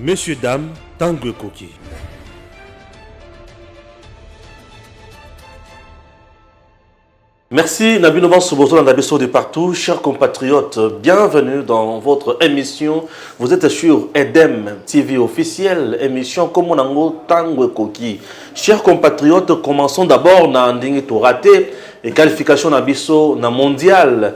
Messieurs, dames, tango ekoki. Merci Nabino Bansobozo Nabiso de partout, chers compatriotes, bienvenue dans votre émission. Vous êtes sur Edem TV officiel, émission comme on Komonango Tango Koki. Chers compatriotes, commençons d'abord na ndenge to raté et qualification Nabiso na mondial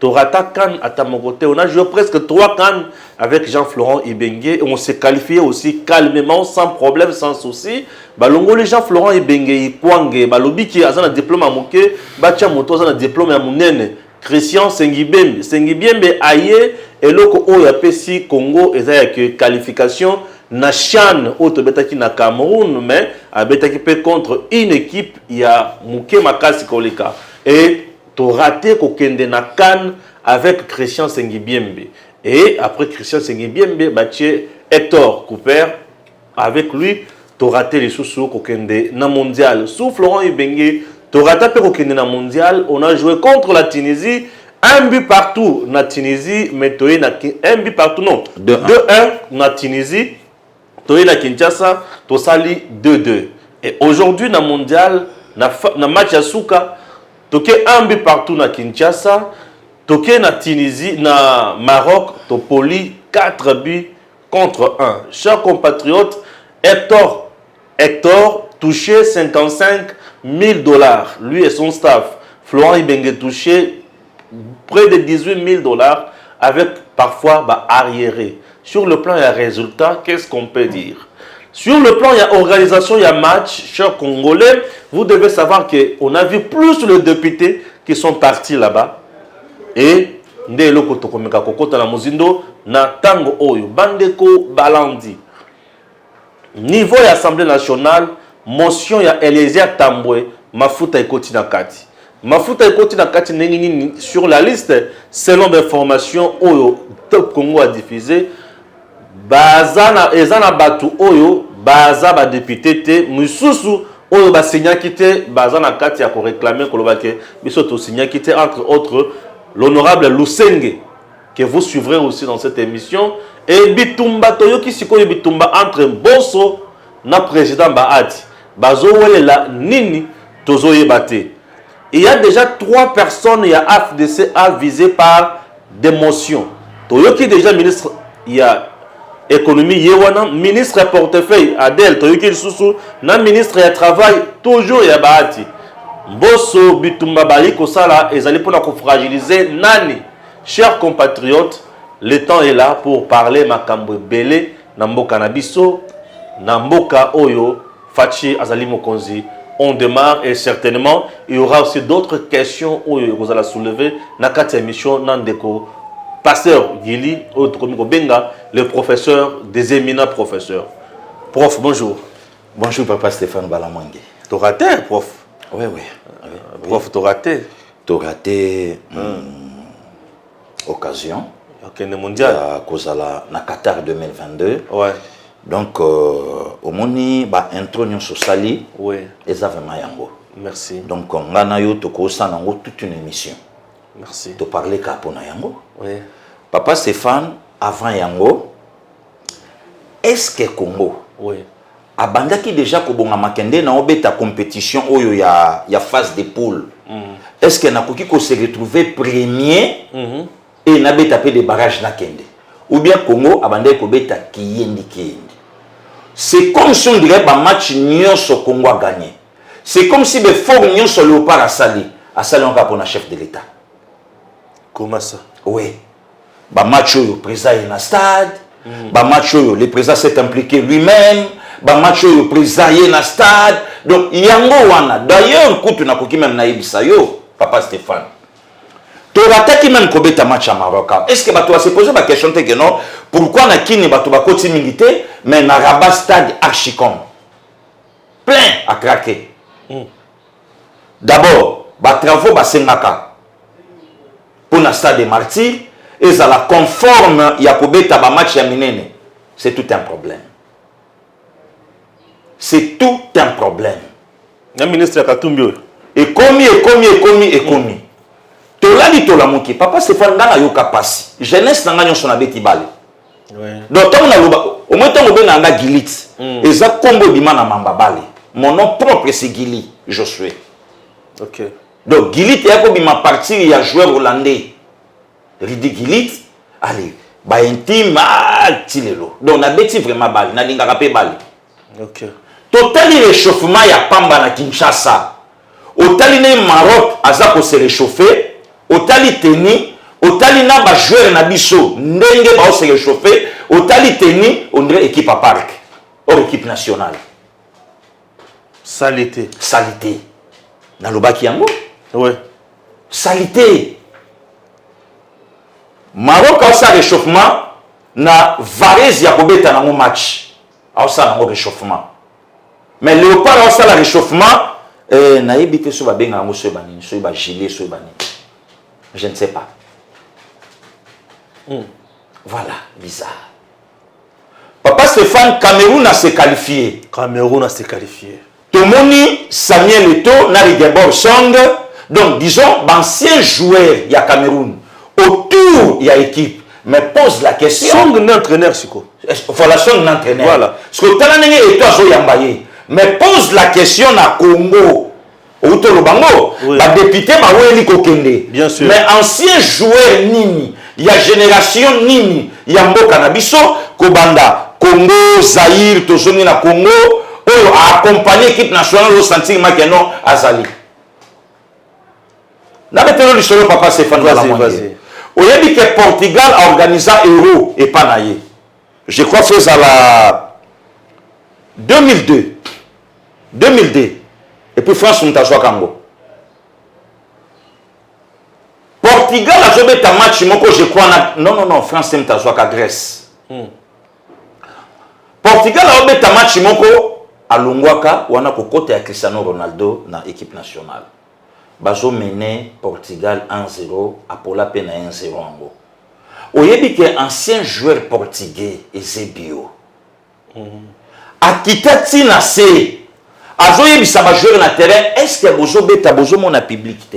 To rata can ata moko te. On a joué presque trois can avec Jean Florent Ibenge et on s'est qualifié aussi calmement, sans problème, sans souci. Balongoli Jean Florent Ibenge Ikwange, balobi ki aza na diplôme ya moke, batia moto aza na diplôme ya munene. Christian Sengibembe, Sengibembe aye eloko oyo apesi Congo eza ya que qualification na Chan oyo tobetaki na Cameroun mais abetaki pe contre une équipe ya moke makasi koleka et To rate ko kende na can avec Christian Sengibiembe et après Christian Sengibiembe ba tie Hector Cooper avec lui to rate lisusu ko kende na mondial sous Florent Ibenge to rata pe ko kende na mondial on a joué contre la Tunisie un but partout na Tunisie mais toye na un but partout non 2-1 na Tunisie toye na Kinshasa tosali 2-2 et aujourd'hui na mondial na, na match ya suka toke un but partout na Kinshasa toke na Tunisie na Maroc topoli 4 buts contre 1 chers compatriotes Hector Hector touche 55 milles dollars lui et son staff, Florent Ibenge touche près de 18 milles dollars avec parfois ba arrieres. Sur le plan ya resultat qu'est-ce qu'on peut dire? Sur le plan ya organisation ya match, chers congolais, vous devez savoir que on a vu plus les deputes qui sont partis là-bas et nde eloko tokomeka kokota na mozindo na tango oyo bandeko balandi Niveau ya Assemblée nationale, motion ya Eliezer Tambwe, mafuta ekoti na kati. Mafuta ekoti na kati ndenge nini sur la liste selon ba information oyo Top Congo a diffusé baza na eza na bato oyo baza ba député te misusu oyo ba signaki te baza na kati ya ko réclamer koloba ke biso to signaki te entre autres l'honorable Lusenge que vous suivrez aussi dans cette émission et bitumba toyoki sikoyo bitumba entre Mboso na président Bahati bazowelela nini tozoyeba te il y a déjà trois personnes ya AFDC a visé par des motions toyoki déjà ministre ya économie ye wana ministre ya portefeuille Adèle toyoki lisusu na ministre ya travail toujours ya Bahati Mboso bitumba bali kosala ezali mpona kofragiliser nani Chers compatriotes, le temps est là pour parler makambo ebele na mboka na biso, na mboka oyo Fatshi azali mokonzi. On demarre et certainement il y aura aussi d'autres questions oyo ekozala soulever na kati ya emission na ndeko Pasteur Guilly oyo tokomi kobenga le professeur des éminents professeurs. Prof, bonjour. Bonjour papa Stéphane Balamangue. T'auras terre, prof. Oui, oui. oui. Prof, t'auras terre. To rater occasion ya kende mondial ya kozala na Qatar 2022. Ouais. Donc omoni ba intro nionso osali eza vraiment yango. Merci. Donc nga na yo toko sala yango toute une emission. Merci. To parler kaka pona yango. Oui. Papa Stephane avant yango Est ce que Congo oui. abandaki deja kobonga makende na obeta competition oyo ya, ya phase de poule mm. est ce que nakoki ko se retrouver premier mm -hmm. et nabeta mpe de barrage nakende ou bien Congo abandaki kobeta kiyendi kiyendi c'est comme si on dirait bamatch nyonso Congo a gagné c'est comme si befort nyonso Léopard asali asali yango kaka mpona chef de l'État comment ça oui ba match oyo président ye na stade mm. ba match oyo le président s'est impliqué lui-même ba match oyo président ye na stade donc yango wana d'ailleurs kutu nakoki meme nayebisa yo papa Stéphane torataki meme kobeta match ya maroc est ce que bato basepose baquestion te ke non pourquoi na kini bato bakoti mingi te mais na rabat stade archicom plein à craquer mm. D'abord, ba travaux basengaka mpo na stade des martyrs ezala conforme ya kobeta ba matchs ya minene, c'est tout un problème. C'est tout un problème. Na ministre ya Katumbi oyo. Ekomi, ekomi, ekomi, ekomi. Mm. Tolali tolamuki, papa Stéphane nga nayoka pasi. Jeunesse na nga nyonso nabeti bale. donc ntango naloba omoi ntango obengaka nga gilit mm. eza nkombo ebima na mamba bale mon nom propre c'est gili josue okay. donc gilit eya kobima partir ya joueur hollandais ridi gilit ale baintime ah, ti lelo donc nabeti vraiment bale nalingaka mpe bale Okay. Totali rechauffement ya pamba na Kinshasa. Otali ne Maroc aza ko se réchauffer, otali teni, otali na ba joueurs na biso ndenge ba se réchauffer, otali teni on dirait équipe à parc. Or équipe nationale. Salité. Salité. Na lobaki yango? Ouais. Salité. Maroc a sa réchauffement na Varese ya kobeta nango match. aosala yango réchauffement mais léopard aosala réchauffement eh, nayebi te soki babengaka yango soki banini soki bagilet soki banini je ne sais pas mm. voilà bizarre papa stéphane cameroun a se qualifie cameroun a se qualifie Tomoni Samuel Eto'o na Rigobert Song, donc disons b'anciens joueurs ya Cameroun autour ya equipe, mais pose la question, Song nde entraineur sikoyo. Voilà Song nde entraineur. Voilà. Sikoyo tala ndenge Eto'o azo yamba ye, mais pose la question na Congo, owuti oloba yango, ba deputes baweli kokende, mais anciens joueurs nini? ya generation nini ya mboka na biso kobanda congo zaire tozongi na congo oyo a accompagne equipe nationale osentir make no azali nabetelo lisolo papa stéphane balamoye oyebi ke portugal aorganisa euro epa na ye je crois fo ezala 2002 2002 epuis france moto azwaka yango Portugal azobeta match moko je crois na non non non France te moto azwaka Grèce hmm. Portugal azobeta match moko alongwaka wana kokota ya Cristiano Ronaldo na équipe nationale bazomene Portugal 1-0 apola mpe na 1-0 yango oyebi ke ancien joueur portugais Eusebio akita ti na se azoyebisa ba joueur na terrain est ce que bozobeta bozomona public te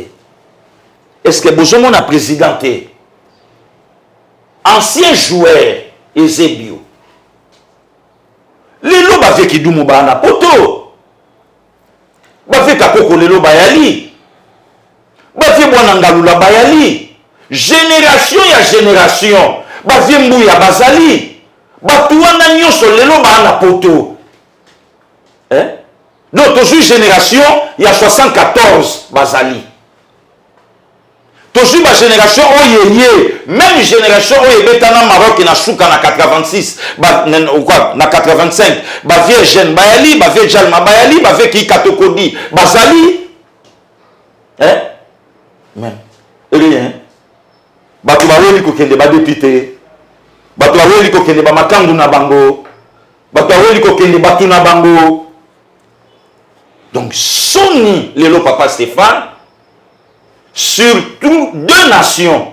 est ce que bozomona président te ancien joueur ezebio lelo bavie kidumu baa na poto bafie kakoko lelo bayali bafie bwana ngalula bayali generation ya generation bafie mbuya bazali bato wana nyonso lelo baa na poto eh? donc tozwi generation ya 74 bazali Tozui ba generation oyo eye meme generation oyo ebeta na Maroc na suka na 86 ba na, quoi, na 85 ba vieux jeune bayali ba vieux jalma bayali ba vieux kikatokodi bazali eh mais rien eh, bato baweli kokende ba député bato baweli kokende ba makangu na bango bato baweli kokende bato na bango donc soni lelo papa Stéphane surtout deux nations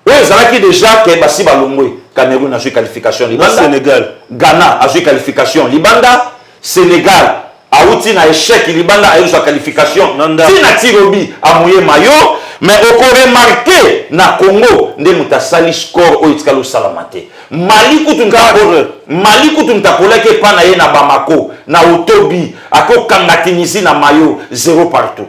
oyo ezalaki déjà ke basi balongwe cameroun azwi qualification libanda sénégal ghana azwi qualification libanda sénégal awuti na échec libanda aye kozwa qualification ntina tirobi amuye mayo mais okoremarke na congo nde moto asali score oyo etikali osalama te mali kutu mali kutu moto akolaki epai na ye na bamako na otobi akokanga tunisi na mayo zero partout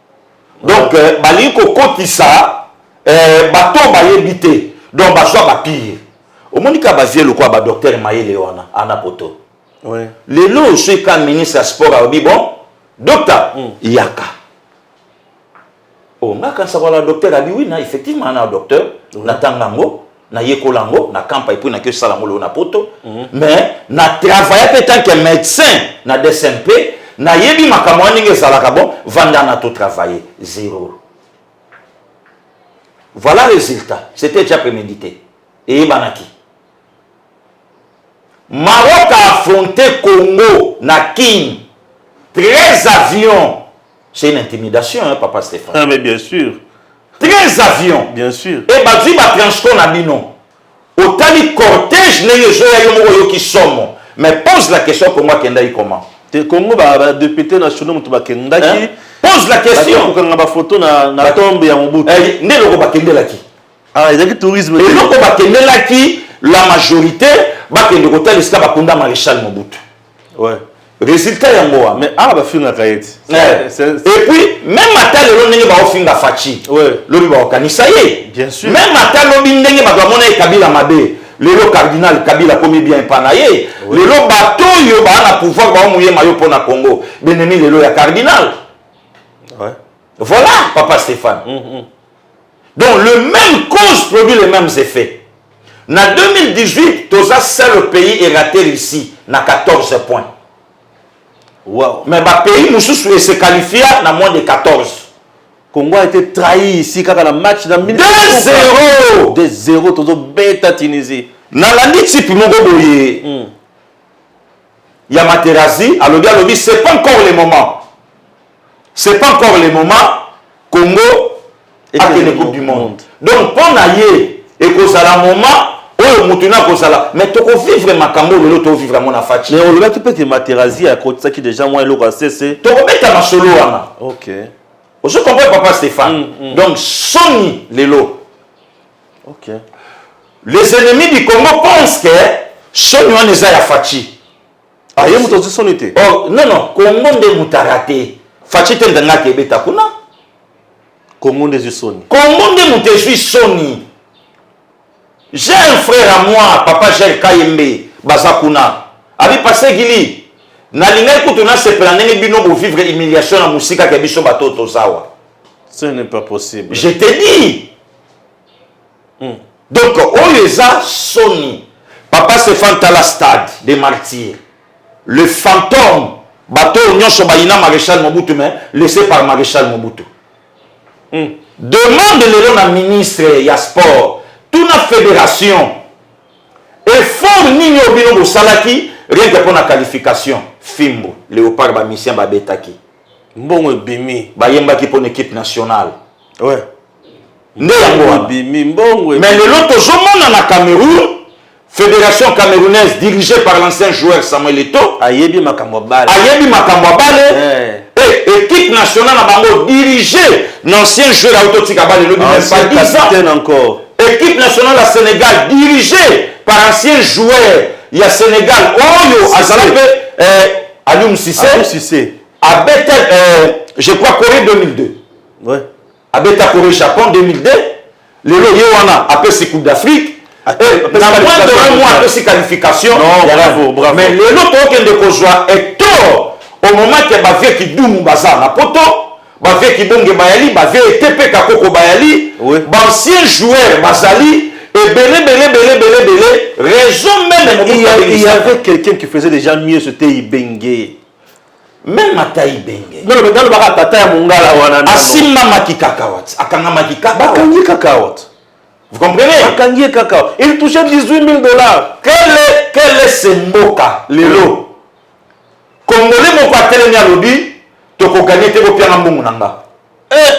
donc euh, balingi kokotisa euh, bato oyo bayebi te donc bazwa bapire omoni kaka bazie lokola badoktere mayele wana ana poto oui. lelo oyo soki ka ministre ya sport alobi bon dokta mm. yaka o oh, nga kanisa wana docteur abi wi na effectivement na docteur oui. natanga yango nayekola yango na campa epuis nake osala yango lelo na poto mhm. mais na travailla mpe tant que médecin na dsmp nayebi makambo wana ndenge ezalaka bon vanda na totravaille zero voilà résultat c'était déjà prémédité eyebanaki maroc a affronté congo na kin 13 avions C'est une intimidation, hein, papa Stéphane. Ah, mais bien sûr. 13 avions. Bien sûr. Et bazui ba transport na bino. Otali cortège ndenge ezoya yo moko oyoki somo. Mais pose la question Congo akendaki comment? Te Congo ba, ba députés nationaux moto bakendaki. Hein? Pose la question. Bakokanga ba photo na na ba... tombe ya Mobutu. Eh, nde loko bakendelaki. Ah, ezaki tourisme. Et loko bakendelaki la majorité bakende kotalisa bakunda Maréchal Mobutu. ouais. résultat yango wa mais awa bafingaka ye ti et puis même ata lelo ndenge baofinga faci lobi baokanisa ye même ata lobi ndenge bato bamona ye kabila mabe lelo cardinal kabila akomi bien epa na ye lelo bato oyo baa na pouvoir baomoyema yo mpo na congo benemi lelo ya cardinal voilà papa stéphane mm -hmm. donc le même cause produit les mêmes effets na 2018 toza seul pays erate russie na 14 points wow. mais bapays mosusu ese qualifia na moins de 14 congo a été trahi ici kaka na match na 2-0 2-0 tozobeta tunisie nalandi tipe moko boye mm. ya materazi alobi alobi c'est pas encore le moment c'est pas encore le moment congo akende coupe du monde donc mpo na ye ekozala moment oyo motu na akozala mais tokovivre makambo lelo tovivre yango na faci mais olobaki mpe te materazi akotisaki déjà mwa eloko ya sese tokobeta masolo wana ok ozo comprendre papa stéphane mm, mm. donc soni lelo ok les ennemis du congo pensent que soni wana eza ya faci Ah, ye moto azwi soni te oh, non non kongo nde mutara te faci te ndenge ake ebeta kuna kongo nde ezwi soni kongo nde moto ezwi soni j'ai un frère à moi papa gel kayembe baza kuna abi pase gili nalingaki kutu nasepela ndenge bino bovivre humiliation na mosika ke biso bato tozawa ce n'est pas possible je te dis donc oyo eza soni papa Stéphane tala stade des martyrs le fantôme bato oyo nyonso bayina maréchal Mobutu mais laissé par maréchal Mobutu mm. demande lelo na ministre ya sport tuna fédération effort nini oyo bino bosalaki rien que mpo na qualification fimbo léopard bamisien babetaki mbongo ebimi bayembaki mpo na équipe nationale ouais. nde yango wana mais lelo tozomona na cameroun fédération camerounaise dirigée par l'ancien joueur samuel eto ayebi makambo ya bale ayebi makambo ya bale eh. et équipe nationale na bango dirigée na ancien joueur auto tika bale elobi même pas 10 ans encore équipe nationale ya sénégal dirigée par ancien joueur ya sénégal oyo azala mpe eh, alium sise abeta eh, je crois corée 2002 ouais. abeta coree japon 2002 lelo ye wana apesi coupe d'afrique namwandoramwa eh, apesi qualification mais lelo tokende kozwa etor au moment ke bavie kidumu baza na poto bavie kibonge bayali bavie etepe kakoko bayali baancien joueur bazali ebele bele bele bele bele raison meme il y avait quelqu'un qui faisait déjà mieux c'était ibenge meme ata ibenge nalobaka tata ya mongala wana asimbamaki kaka wat akangamaki kaka bakangi kaka wat vous comprenez bakangi ye kaka il touche 18 000 dollars kele kele se mboka lelo congolais moko atelemi alobi tokoganye te bopianga mbongo na nga eh!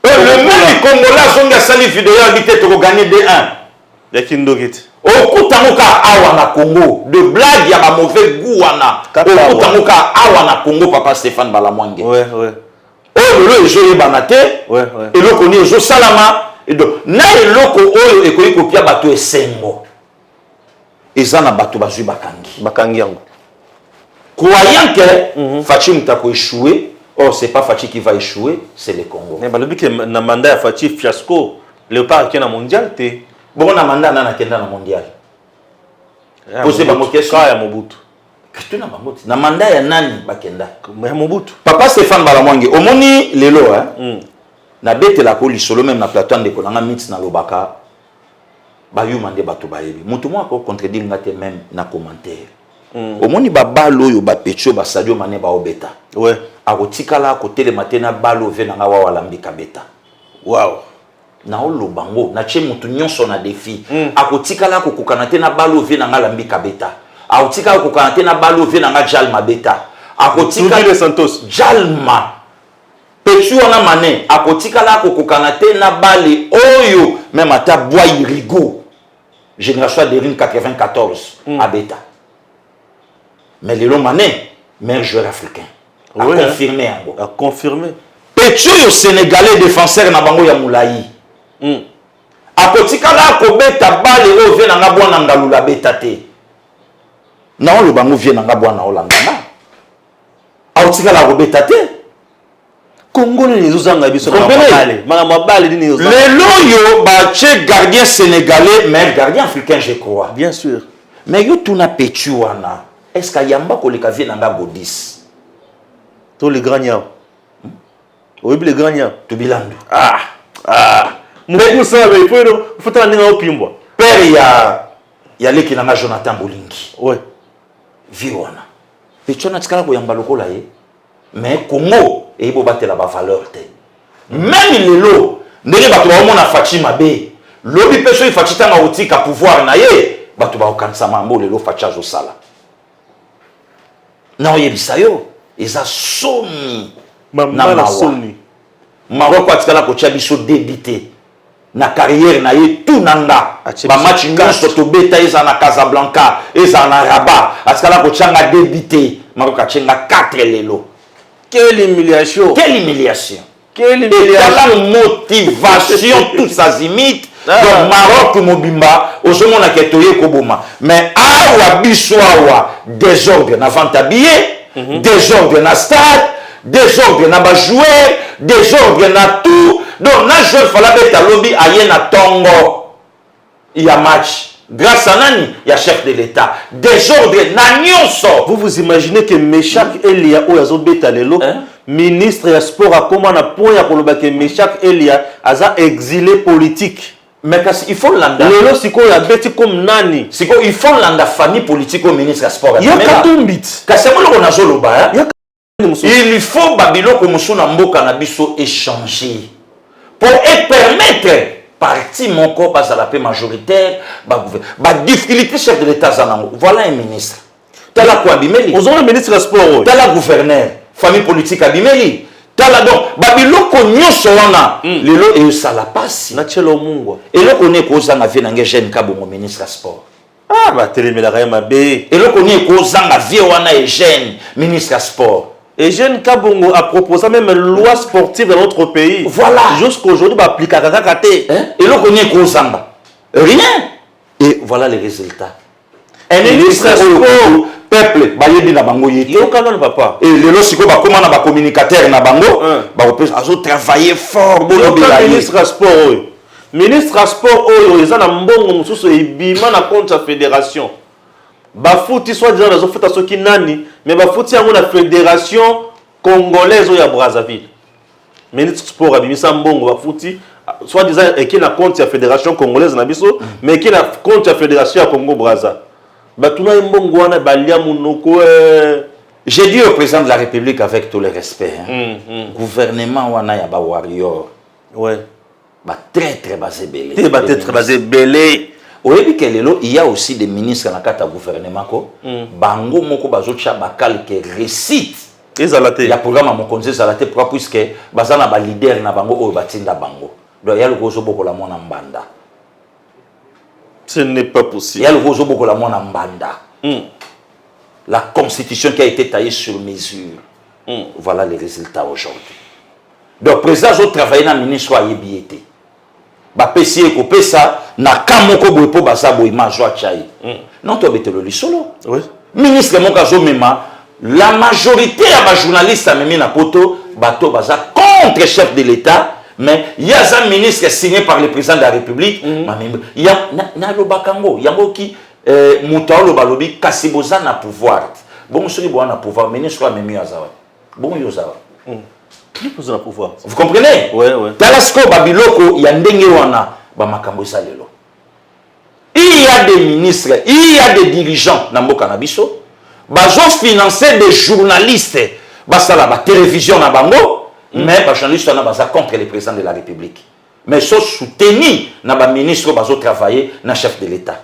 Oh, le meme congolais azongi asali video abi te toko gagner D1. Ya kindoki te. Okuta ngo ka awa na Congo de blague ya ba mauvais goût wana. Okuta ngo ka awa na Congo papa Stéphane Balamwange. Ouais ouais. Oyo lelo ezo yebana te. Ouais ouais. Eloko ni ezo salama. Donc na eloko oyo ekoki kopia bato esengo. eza na bato bazwi bakangi bakangi yango croyant que mm -hmm. fachi moto akoechoue or c'est pas fachi qui va échouer c'est le congo mais balobi ke na mandat ya fachi fiasco léopard akei na mondial te bongo na mandat nani akenda na mondial pose bango question ya mobutu tuna bango ti na mandat ya nani bakenda ya mobutu papa stéphane balamwange omoni lelo eh? mm. nabetelaka o lisolo meme na plateau ndeko na nga miti nalobaka bayuma nde bato bayebi moto moko ako contredire nga te meme na commentaire mm. omoni babale oyo bapecho basadio mane baobeta ouais. akotikala akotelema te na bale ove na nga wawa alambika beta wow. naoloba ngo natye moto nyonso na defi mm. akotikala akokokana te na bale ove na nga alambika beta akotika akokokana te na bale ove na nga jalma beta akotika jalma Petit wana mane akotikala akokokana te na bale oyo meme ata bwai rigo génération ya derine 94 mm. abeta mais lelo mane meilleur joueur africain oui, aconfirme yango hein. aconfirme petit oyo sénégalais défenseur na bango ya molai mm. akotikala akobeta bale oyo vie nanga bwana ngalula abeta te naoloba yango vie nanga bwana olandana akotikala akobeta te kongo nini ezozanga biso makambo ya bale nini lelo oyo batye gardien sénégalais mais gardien africain je crois bien sûr mais yo tuna petu wana est ce que ayamba koleka vie na nga godis to le grand niao hmm? oyebi le grand niao tobilandu ah ah mokusa be po eno fotala ndenge aopimbwa père ya ya leki na nga jonathan bolingi ouais vie wana Pechona atikala koyamba lokola ye mais Congo eyebi obatela ba valeur te meme lelo ndenge bato baomona faci mabe lobi mpe soki faci ntango akotika pouvoir na ye bato bakokanisa mambo lelo faci azosala na oyebisa yo eza soni na mawa maroko atikala kotya biso debi te na carrière na ye tout na nga ba match nyonso tobeta ezala na casablanca ezala na rabat atikala kotya nga debite makoki atye nga 4 lelo quelle humiliation quelle humiliation etala motivation tous azimite ah. donc maroc mobimba ozomona ke toye koboma mais awa biso awa desordre na vente ya billet mhm. desordre na stade desordre na ba joueur desordre na tout donc na joueur fala beta lobi aye na tongo ya match grâce à nani ya chef de l'etat desordre na nyonso vous vous imaginez que meshak hmm. elia oyo azobeta lelo hein? ministre ya sport akoma na point ya koloba ke meshak elia aza exilé politique mais kasi il faut landa lelo sikoyo abeti comme nani sikoyo il faut landa famille politique oyo ministre ya sport ya katumbit kasi yango eloko nazoloba il faut babiloko mosusu na mboka na biso echange mpo epermettre parti moko bazala mpe majoritaire badifficulté chef de l'état aza nango voilà un ministre tala ko abimeli ozomona ministre ya sport oyo tala gouverneur famille politique abimeli tala donc babiloko nyonso wana mm. lelo eyosala mpasi na tielo mungwa eloko nini ekozanga vie na nge jeune kabongo ministre ya sport Ah, batelemelaka ye mabe. Eloko nini ekozanga vie wana Eugène, ministre ya sport? Eugène Kabongo a proposa meme loi sportive dans notre pays. Voilà. Jusqu'aujourd'hui ba applicaka kaka te. Hein? Eloko nini ekozanga? Rien. Et voilà les résultats. Un ministre ya sport peuple bayebi na bango ye te yoka nano papa e lelo sikoyo bakóma na bacommunicateur na bango bakopesa azotravaille fort bolobela ye ministre ya sport oyo Ministre ya sport oyo eza na mbongo mosusu ebima na compte ya federation bafuti soit disant nazofuta soki nani me bafuti yango na federation congolaise oyo ya brazzaville ministre sport abimisa mbongo bafuti soit disant eke na compte ya federation congolaise na biso me eke na compte ya federation ya congo braza batuna ye mbongo wana balia monoko eh. J'ai dit au président de la République avec tout le respect, hein, mm, mm. gouvernement wana ya ba warrior ouais ba traitre baza ebele te ba traitre baza ebele oyebi ke lelo il y a aussi des ministres na kati ya gouvernement ko mm. bango moko bazotya bakalke récite ezala te ya programme ya mokonzi ezala te pourquoi puisque baza na baleader na bango oyo batinda bango donc ya lokola ozobokola mwana mbanda ce n'est pas possible ya lokola ozobokola mwana mbanda mm. la constitution qui a été taillée sur mesure mm. voilà les résultats aujourd'hui donc president azo travailler na ministre oyo ayebi ye te bapesi ye kopesa na ka moko boye mpo baza boye mazwa tya ye mm. non tobetelo lisolo oui. ministre moko azomema la majorité ya bajournaliste amemi na poto bato baza contre chef de l'état mais ye aza ministre signé par le président de la république mm. mamembe nalobaka yango yango ki eh, moto aoloba alobi kasi boza na pouvoir bongo soki boza na pouvoir ministre amemi aza wapi Bon yo oza wapi? Ozala pouvoir. Vous comprenez? Ouais, ouais. Tala sikoyo ba biloko ya ndenge wana ba makambo eza lelo. Il y a des ministres, il y a des dirigeants na mboka na biso bazo financer des journalistes basala ba télévision na bango mm. mais ba journalistes wana baza contre le président de la République mais so soutenu na ba ministres bazo travailler na chef de l'État.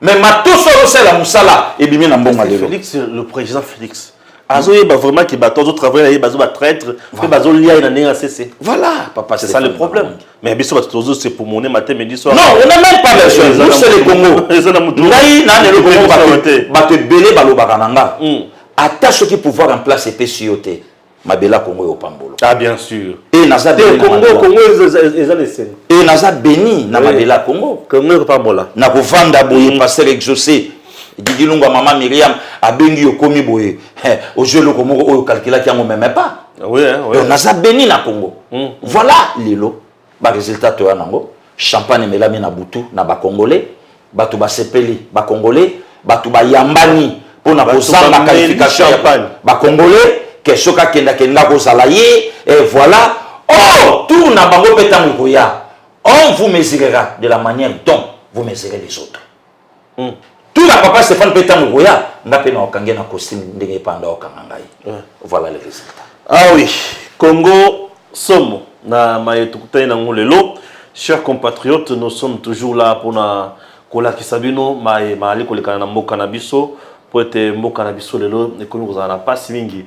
mais matos oyo azosala mosala ebimi na mbongo lelo félix le président félix azoyeba vraiment ke bato azotravaille na ye bazo batraitre mpe bazolia ye na ndenge ya sese voilà papa c'est ça le problème mais biso bato tozo se pomone matin midi soir non on a même pas besoin nous c'est le congo eza na moto ngai na lelo congo bato ebele balobaka na nga hmm. ata soki pouvoir en place epesi yo te mabela Congo yo pambolo ah bien sûr et naza te Congo Congo eza le sen et naza béni na mabela Congo Congo ko pambola na ko vanda boye mm. pasteur exaucé Didi Lunga maman Myriam abengi yo komi boye eh, ozo eloko moko oyo calculaki yango même pas oui, hein, oui. donc naza béni na Congo mm. voilà lelo Ba resultats toya nango, champagne emelami na butu na ba congolais, batu basepeli, ba congolais batu bayambani pona kozanga qualification ya ba congolais que soki akende akende nga kozala ye et voila or tour na bango pe tango ekoya on vous mesurera de la maniere dont vous mesurez les autres. mm. tuna papa stéphane mpe ntango koya nga mpe na okange na costume ndenge epanda okanga ngai mm. voilà le résultat ah oui congo somo na maye tokutani nango lelo chers compatriotes nous sommes toujours là mpona kolakisa bino maye maali kolekana na mboka na biso mpo ete mboka na biso lelo ekomi kozala na mpasi mingi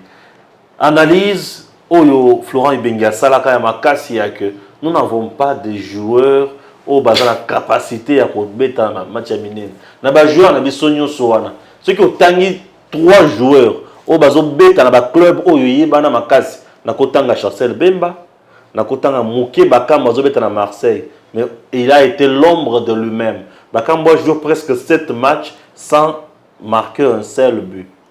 Analyse oyo Florent Ibenge asalaka ya makasi ya que nous n'avons pas des joueurs oyo baza na capacite ya kobeta na match ya minene. Na ba joueurs na biso nyonso wana, soki otangi trois joueurs oyo bazobeta na ba club oyo eyebana makasi, nakotanga Chancel Bemba, nakotanga Muke Bakambu azobeta na Marseille, mais il a été l'ombre de lui-même. Bakambu a joue presque sept matchs sans marquer un seul but.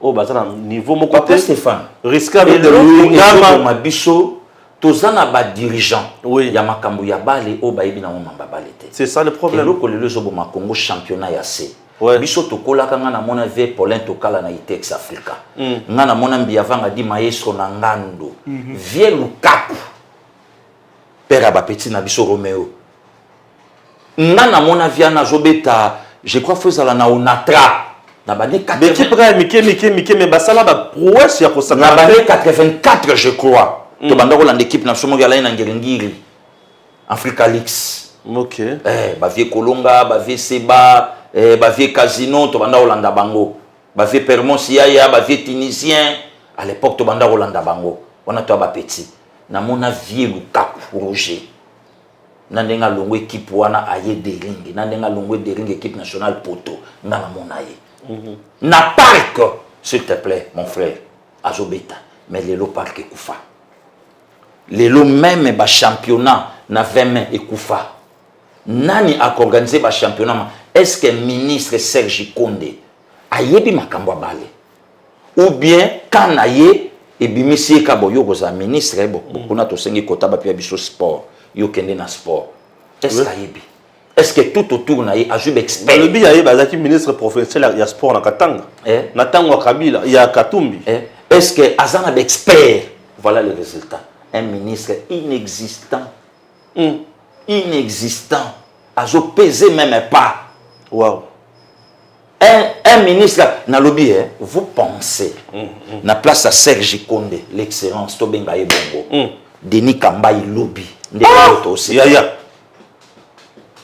oyo baza na niveau moko papa Stéphane risque de l'homme biso toza na ba dirigeant oui. ya makambo ya bale oyo bayebi nango mamba bale te c'est ça le problème eloko lelo ezoboma congo championnat ya se ouais. biso tokolaka ngai namona ve paulin tokala na itex africa mm. ngai namona mbiyavanga di maestro na ngando mm -hmm. vie lukaku père ya bapeti na biso romeo nga namona viana azobeta je crois fo ezala na onatra na bane ekipe kaka ya mike mike mike me basala baprouesse ya kosakana bane 84 je crois mm. tobanda kolanda ekipe na biso moko alai na ngiringiri africa lix okay. eh, bavie kolonga bavie seba eh, bavie casino tobanda kolanda bango bavie permons yaya bavie tunisien à l'époque tobanda kolanda bango wana toya bapetit namona vie lukaku roger na ndenge alongwe ekipe wana aye deringi na ndenge alongwe deringi ekipe nationale poto nga namona ye mhm. na parc s'il te plaît mon frère azobeta mais lelo parc ekufa lelo meme bachampionnat na 20 mai ekufa nani akoorganize bachampionnat est ce que ministre serge konde ayebi makambo ya bale ou bien camp na ye ebimisi ye kaka boye okozala ministre eh, mm. kuna tosengi kota bapia biso sport yo kende na sport est-ce que ayebi est-ce que tout autour na ye azwi baexpert olobi ya ye bazalaki ministre provincial ya sport na katanga eh? na ntango ya kabila ya katumbi eh? est-ce que aza na baexpert voilà le résultat un ministre inexistant mm. inexistant azopese même pas wow. un, un ministre na lobi eh, vous pensez mm, mm. na place à Serge Konde l'excellence to benga ye bongo mm. Denis Kambayi lobi nde ah! to aussi ya ya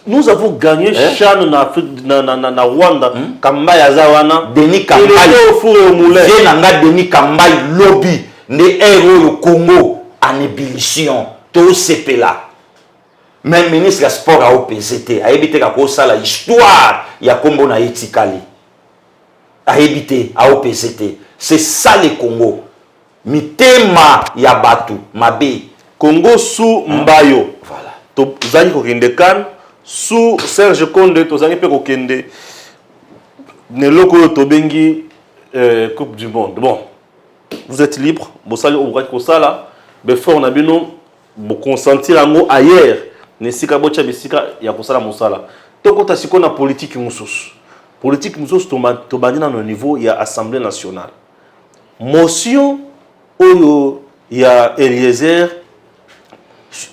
nous avons gagné eh? chan na Afrique na na na, na Rwanda hmm? Kambayi aza wana Denis Kambayi le four au moulin ye na nga Denis Kambayi lobi nde héros au Congo en ébullition to sepela Meme ministre ya sport ao pese te ayebi te kako sala histoire ya kombo na ye tikali ayebi te ao pese te c'est ça le Congo mitema ya batu mabe Congo sous mbayo voilà tozangi kokende kan sous Serge Konde tozangi pe kokende na eloko oyo tobengi euh, coupe du monde bon vous êtes libre bosali oyo bokaki kosala befort na bino Bo consentir yango ailleurs na esika botia bisika ya kosala mosala. Tokota sikoyo na politique mosusu. Politique mosusu tobandi nanu na niveau ya assemblee nationale. Motion oyo ya Eliezer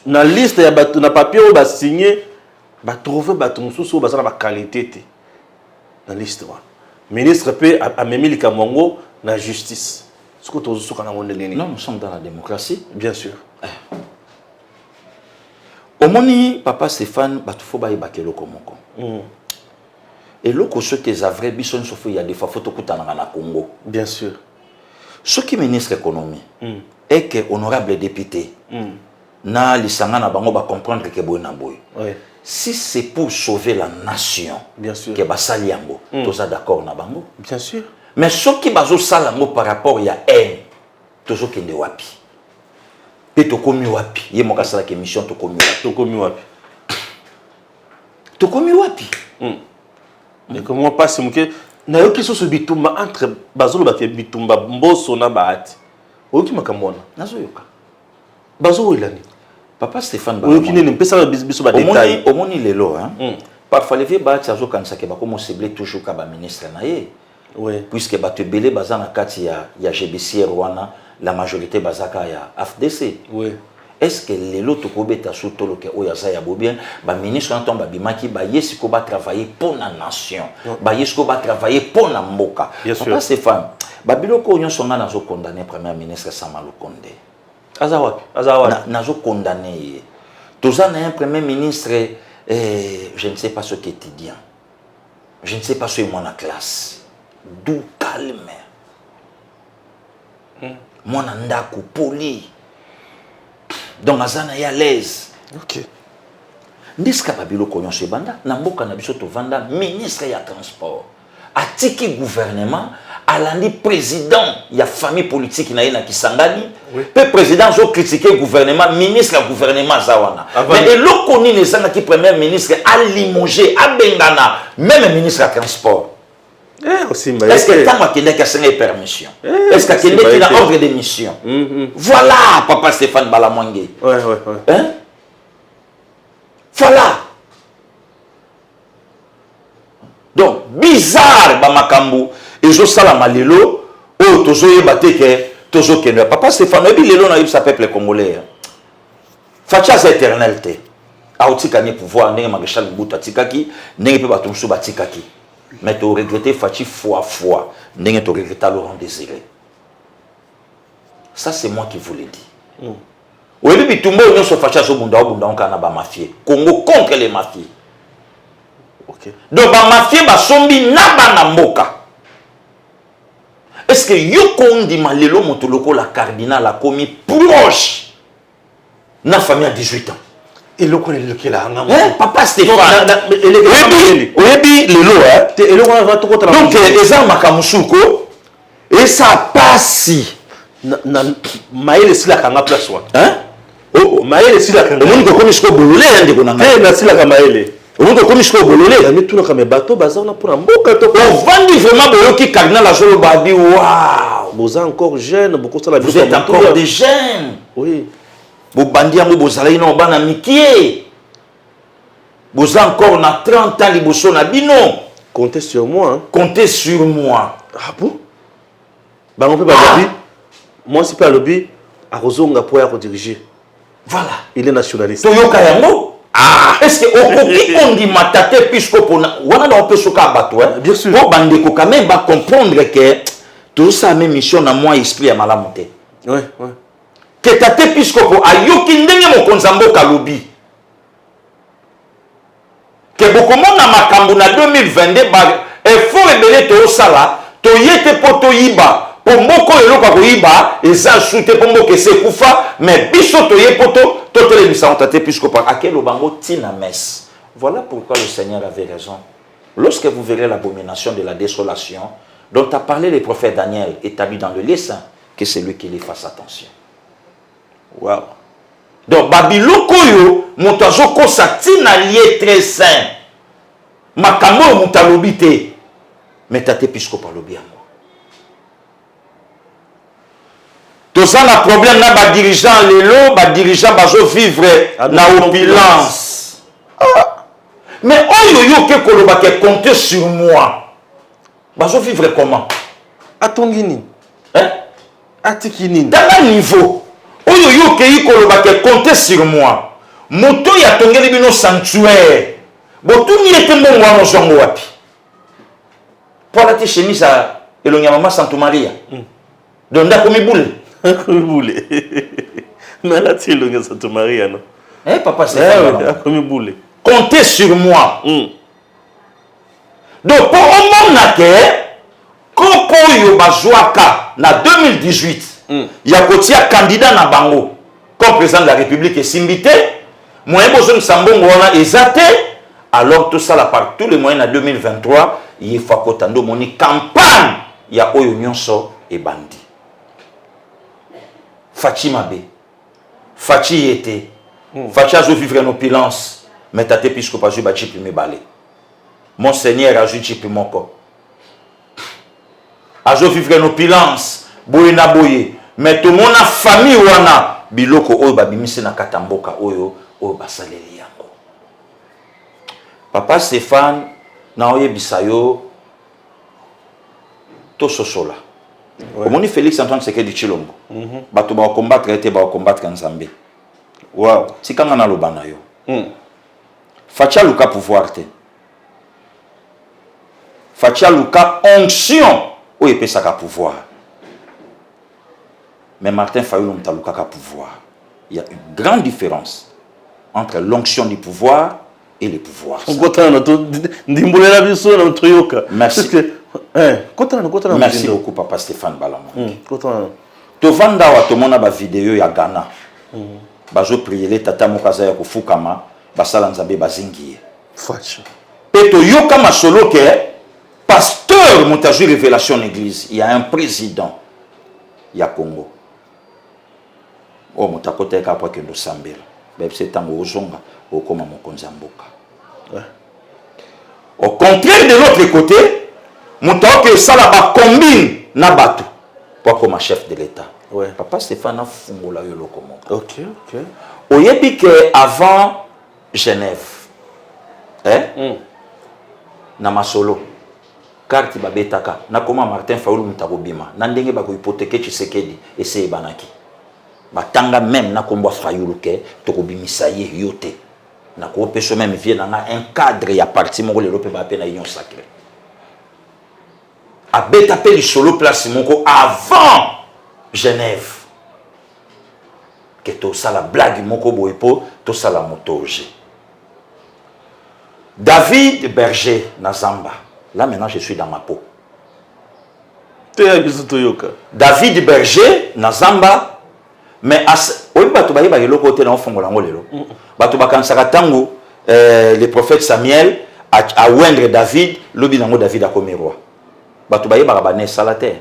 na liste ya batu na papier oyo ba signer ba trouver batu mosusu oyo baza na ba qualite te na liste wana. Ministre pe amemi likambo yango na justice. siko tozosuka nango ndenge nini non nous sommes dans la démocratie bien sûr eh. omoni papa stéphane bato fo bayebaka eloko moko mm. eloko soki eza vrai biso nyonso fo ya defa fo tokutanaka na congo bien sûr soki ministre économie mm. eke honorable député mm. na lisanga na bango ba comprendre ke boye na boye oui. si c'est pour sauver la nation bien sûr que basali yango mm. toza d'accord na bango bien sûr mais soki bazosala yango par rapport ya haine tozokende wapi mpe tokomi wapi ye moko asalaka émission tokomi wapi tokomi wapi tokomi wapi hmm. ndeko mwa mpasi moke nayoki susu bitumba entre bazolobaka bitumba mboso na bahati oyoki makambo wana nazoyoka bazo wela nini papa Stéphane Oyo kine ne pesa ba biso ba détails omoni lelo hein mm. parfois levier bati azo kanisa ke bakomo cibler toujours ka ba ministre na ye oui. puisque bato ebele baza na kati ya, ya judiciaire wana la majorité bazaka ya afdc oui. est ce que lelo tokobeta su toloke oyo aza ya bobien baministre wana ntango babimaki baye sikoyo batravaille mpo na nation baye sikoyo batravaille mpo na mboka papa stéphane babiloko oyo nyonso ngai nazokondane premier ministre sama lukonde aza wapi aza wapi nazo condamner ye toza na un premier ministre eh, je ne sais pas ce qu'étudiant je ne sais pas soki mwana classe du calme hmm. mwana ndako poli donc aza na ye alaise okay. nde sika babiloko nyonso ebanda na mboka na biso tovanda ministre ya transport atiki gouvernement alandi président ya famille politique na ye na kisangani oui. mpe président azokritike gouvernement ministre ya gouvernement aza wana ah, mais eloko nini ezangaki premier ministre alimoge abengana meme ministre ya transport eh, est-ce que ntango akendaki asengai permission eh, est ce que akendeki na ordre de mission mm, mm. voilà papa stéphane balamwange ouais, ouais, ouais. Hein? voilà donc bizarre bamakambo ezosalama lelo oyo tozoyeba te ke tozokende papa stefano oyebi lelo nayebisa peuple congolais hein. faci aza éternel te aotika ni pouvoir ndenge marechal mobutu atikaki ndenge mpe bato mosusu batikaki mais toregrete faci fois fois ndenge toregreta laurent désiré ça c'est moi qui vous le dis mm. oyebi bitumba oyo nyonso fashi azobunda obunda onkana na bamafie congo contre les mafie okay. donc bamafie basombi na bana mboka est ce que yoko ondima lelo moto lokola cardinal akomi proche na famille ya 18 ans eloko na elekela nga eh, papa stéphaneoyebi lelo eh? donc eza makambo suko Esa pasi. Na, na, mayele esilaka nga place wana. Hein? Oh, oh mayele esilaka nga. Omoni kokomi siko bolole ya ndeko na ngai. Te, nasilaka mayele. Omoni kokomi siko bolole. Ya mitunaka me bato baza wana mpona mboka to. Ovandi vraiment boyoki cardinal azoloba abi waouh. Boza encore jeune, bokosala Vous êtes encore des jeunes. Oui. Bobandi yango bozalaki na bana mikie. Boza encore na 30 ans liboso na bino. Comptez sur moi. Hein? Comptez sur moi. Ah bon? Bango mpe balobi, ah! mwasi mpe alobi akozonga mpo ya kodirige. Voilà. Il est nationaliste. Toyoka yango. Ah. Est-ce que okoki kondima tata episkopo wana na opeso ka bato hein? Bien sûr. Mpo bandeko quand même ba comprendre que tozosala meme mission na mwa esprit ya malamu te. Ouais, ouais. Que tata episkopo ayoki ndenge mokonzi ya mboka alobi que bokomona makambo na 2022 ba effort ebele toosala toye te mpo toyiba mpo mboka oyo eloko ya koyiba eza su te mpo mboka esi ekufa me biso toye mpo to totelemisa yango tata episkopo akeloba yango ntina messe Voilà pourquoi le Seigneur avait raison. Lorsque vous verrez l'abomination de la désolation dont a parlé le prophète Daniel établi dans le lieu saint, que celui qui lit fasse attention wow donc babiloko oyo moto azokosa ntina lie très sain makambo oyo moto alobi te me tate episkopo alobi yango toza na problème na badirigeant lelo badirigeant bazovivre ah, na opulence ah. mais oyo yo oke kolobaka compte sur moi bazo vivre comment atongi nini hein? atiki nini tanga niveau oyo yo okei koloba ke compte sur moi moto oyo atongeli bino sanctuaire botuni ye te mbongo wana ozwa ngo wapi mpo alati chemise ya elongi ya mama santu maria mm. don nde akomi bule akomi bule mais alati elongi ya santu maria no eh, papa eh, akomi bule compte sur moi mm. donc mpo omona ke kopo oyo bazwaka na 2018 mm. ya kotia kandida na bango comme président de la république esimbi te moyen bozongisa mbongo wana eza te alors tosala par tous les moyens na 2023 ye fakota nde omoni campagne ya oyo nyonso ebandi faci mabe Fatshi ye te. Hmm. Fatshi azo vivre en opulence. Mais tate episcope azwi ba chip mibale. Monseigneur azwi chip moko. Azo vivre en opulence. Boye na boye. Mais tomona famille wana biloko oyo babimisi na kata mboka oyo oyo basaleli yango. Papa Stéphane naoyebisa yo tososola ouais. omoni félix antoine sekedi tshilombo mm -hmm. bato bakokombattre ye te bakokombattre nzambe wow. tikanga naloba na yo mm. faci aluka pouvoir te faci aluka onction oyo epesaka pouvoir mais martin fayulu moto alukaka pouvoir il y a une grande différence entre l'onction du pouvoir et le pouvoir. Merci. Eh, Merci beaucoup, papa Stéphane Balamon. Hmm, tovanda awa tomona bavideo ya ghana hmm. bazopriele tata moko aza ya kofukama basala nzambe bazingi ye mpe toyoka masolo ke pasteur moto azwi révélation na église ya un président ya congo oyo moto akota ye kaka mpo akende osambela bayebisa ye ntango ozonga okoma mokonzi ya mboka au contraire de l'autre côté moto aoki osala bacombine na bato mpo akoma chef de l'état ouais. papa stéphane afungola yo eloko moko okay, okay. oyebi ke avant genève eh? mm. na masolo Carte ba betaka na koma Martin fayulu mutu ako bima na ndenge ba ko hypotheque tshisekedi esi eyebanaki ba tanga meme na kombo ya fayulu que toko bimisa ye yo te na ko pesa yo meme vieux na nga un cadre ya parti moko lelo pe ba pe na union sacre a beta pe lisolo place moko avant Genève que to sala blague moko boye po to sala moto oje David Berger na zamba. Là maintenant je suis dans ma peau. David Berger na zamba mais as oyebi bato bayeba eloko te na ofongola yango lelo bato bakanisaka ntango euh, le prophète samuel awendre david lobi nango david akomi roi bato bayebaka bana esala te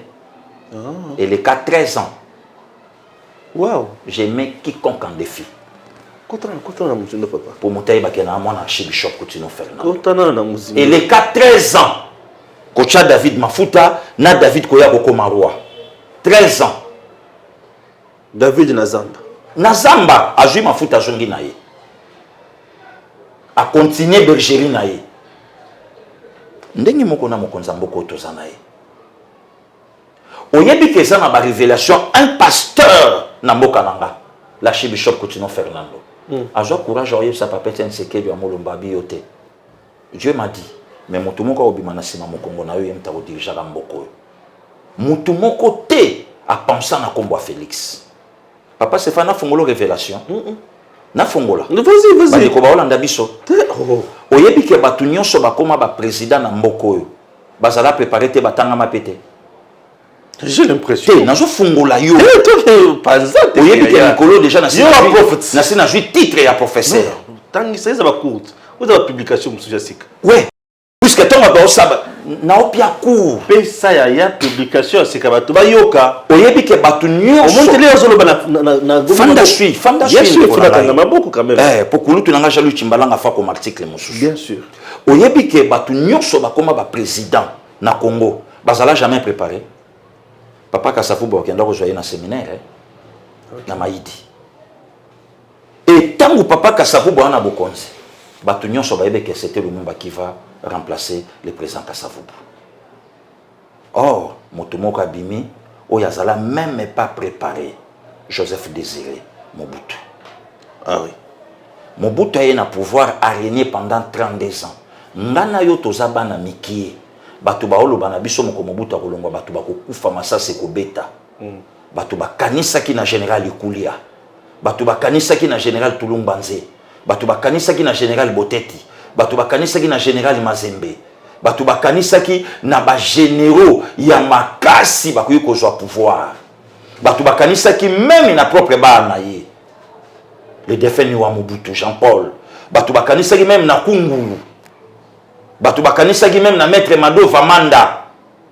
ah. eleka 13 ans Wow, j'aimais quiconque en défi. Kotana kotana muzindo papa. Pour mutaye bakena na mwana archibishop Kutino Fernand. Kotana na muzindo. Et les 13 ans. Kocha David Mafuta na David koya kokoma roi. 13 ans. David na Zamba. Na Zamba azui Mafuta azongi na ye. A continuer bergerie na ye. Ndenge moko na mokonza mboko toza na ye. Oyebi ke eza na ba revelation un pasteur na mboka na nga l'archibishop Kutino Fernando mm. azwa courage oyebisa papa Etienne Sekedi ya Molomba abi yo te Dieu m'a dit mais motu moko akobima na nsima mokongo na yo ye moto akodirigeaka mboka oyo motu moko te apensa na nkombo ya Felix papa Sefa nafungolo revelation mm -mm. nafongola bandeko baolanda biso oh. oyebi ke bato nyonso bakoma baprésident na mboka oyo bazala prepare te batangama mpe te j'ai l'impression te nazofungola yo oyebi te mikolo déjà nasi nazwi titre ya professeur tangisa eza bacourte oza bapublication mosusu ya sika we puiske ntongo baosaba naopia cour pesa yaya publication ya sika bato bayoka oyebi ke bato nyonsoomotele azoloba fanda sui fanda suiakanga maboko quand même eh, po kulutu na nga jalu cimbalanga fa koma article mosusu bien sûr Oyebi ke bato nyonso bakoma ba president na Congo bazala jamais prepare. Papa Kasavubu bakenda kozwa ye na seminaire eh? okay. na Mayidi. E ntango Papa Kasavubu wana bokonzi, bato nyonso bayebi ke c'était Lumumba qui va remplacer le président Kasavubu. Or, moto moko abimi oyo azala meme pas prepare, Joseph Desire Mobutu. Ah oui. Mobutu aye na pouvoir a regne pendant 32 ans. Nga na yo toza bana mikie. Bato baoloba na biso moko Mobutu akolongwa bato bakokufa masasi ekobeta. Mm. Bato bakanisaki na general Ikulia. bato bakanisaki na general tulumbanze bato bakanisaki na general boteti bato bakanisaki na general mazembe bato bakanisaki na bagenero ya makasi bakoki kozwa pouvoir bato bakanisaki meme na propre bana ye le defunt niwa mobutu jean paul bato bakanisaki meme na kungulu bato bakanisaki meme na maître mado vamanda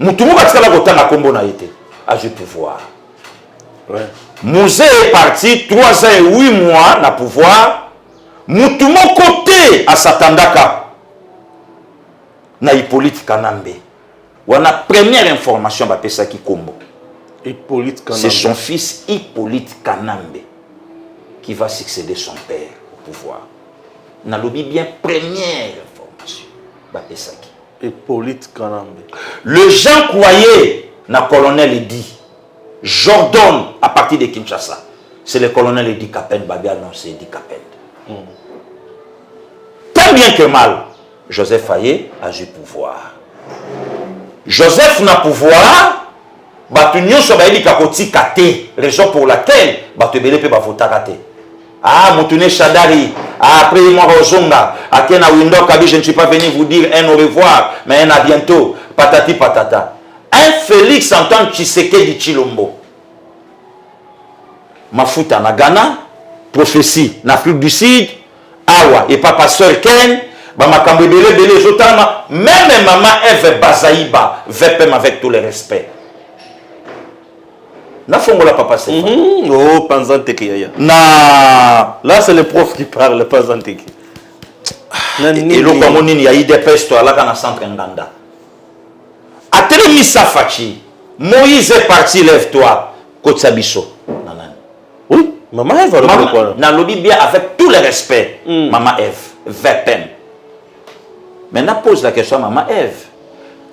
mutu moko atikala kotanga kombo na ye te azwi pouvoir ouais. muze est parti 3 ans et 8 mois na pouvoir mutu moko te asatandaka na hippolyte kanambe wana première information bapesaki kombo hippolyte kanambe c'est son fils hippolyte kanambe qui va succéder son père au pouvoir nalobi bien première information bapesaki Hyppolite Kanambe. Les gens croyaient na colonel Eddy Jordon à partir de Kinshasa. C'est le colonel Eddy Kapend babi annonce Eddy Kapend. Mm. Tant bien que mal, Joseph Aye azwi pouvoir. Joseph na pouvoir bato nyonso bayebika kotika te raison pour laquelle bato ebele mpe bavotaka te Ah, Moutoune Shadari, ah, après moi Rozonga, à Kena Windor Kabi, je ne suis pas venu vous dire un au revoir, mais un à bientôt, patati patata. Un Félix en tant que Tshisekedi Chilombo. Mafuta na Ghana, prophétie na Afrique du Sud, Awa et Papa Sœur Ken, bamakambo ebele ebele ezotalama meme mama eve bazaiba vpm avec tout le respect Na fongola papa c'est. Mm -hmm. Oh panza teke yaya. Na là c'est le prof qui parle panza teke. Et le yango nini ya idps toyalaka na centre nganda atelemisa faci moïse est parti lève toi kotisa biso na nani oui mama eve nalobi bien avec tout le respect mm. mama eve vpm maintenant pose la question mama eve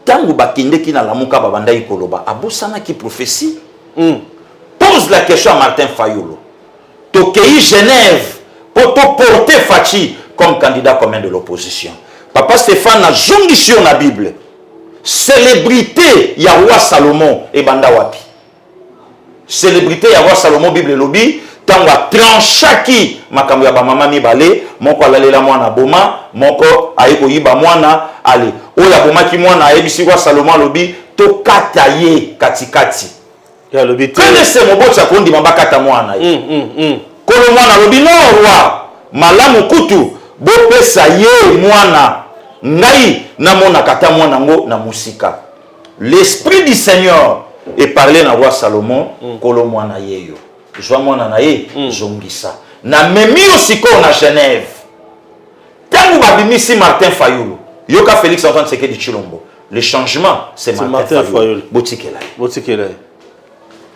ntango bakendeki na lamuka babandaki koloba abosanaki prophetie mm. pose la question ya martin fayolo tokei genève mpo toporte faci comme candidat commun de l'opposition papa stéphane nazongisi yo na bible célébrité ya roi salomon ebanda wapi Celebrite ya roi Salomon Bible elobi ntango atranchaki makambo ya bamama mibale, moko alalela mwana aboma, moko aye koyiba mwana ale. Oyo abomaki mwana ayebisi roi Salomon alobi tokata ye katikati. Alobi te. Kanese moboti akondima bakata mwana ye. Mm, mm, mm. Kolo mwana alobi no roi malamu kutu bopesa ye mwana ngai namonaka ata mwana yango na mosika. L'esprit du Seigneur est parlé na roi Salomon, mm. kolo mwana yeyo. Zwa mwana na ye, mm. zongisa. Na memi yo sikoyo na Genève. Tango babimisi Martin Fayulu, yoka Félix Antoine Tshisekedi Tshilombo. Le changement, c'est Martin, Martin Fayulu. Botikela ye. Botikela ye.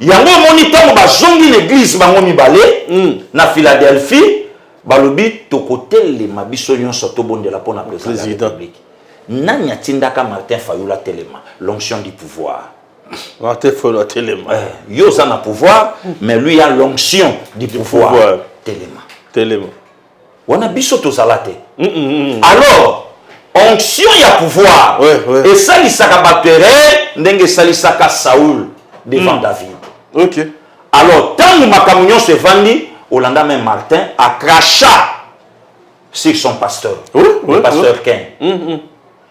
yango omoni ntango bazongi na eglize bango mibale mm. na philadelphie balobi tokotelema biso nyonso tobondela mpo na president ya republique nani atindaka martin fayulu atelema l'onction du pouvoir martin fayulu atelema eh, yo oza na pouvoir mais lui a l'onction du pouvoir telema telema wana biso tozala te mm, mm, mm, mm. alors onction ya pouvoir ouais, ouais. esalisaka bato erreur ndenge esalisaka saul devant mm. david okay. alors ntango makambo nyonso evandi olanda meme martin acracha sur son pasteur oui, oui, le pasteur oui. ken mm, mm.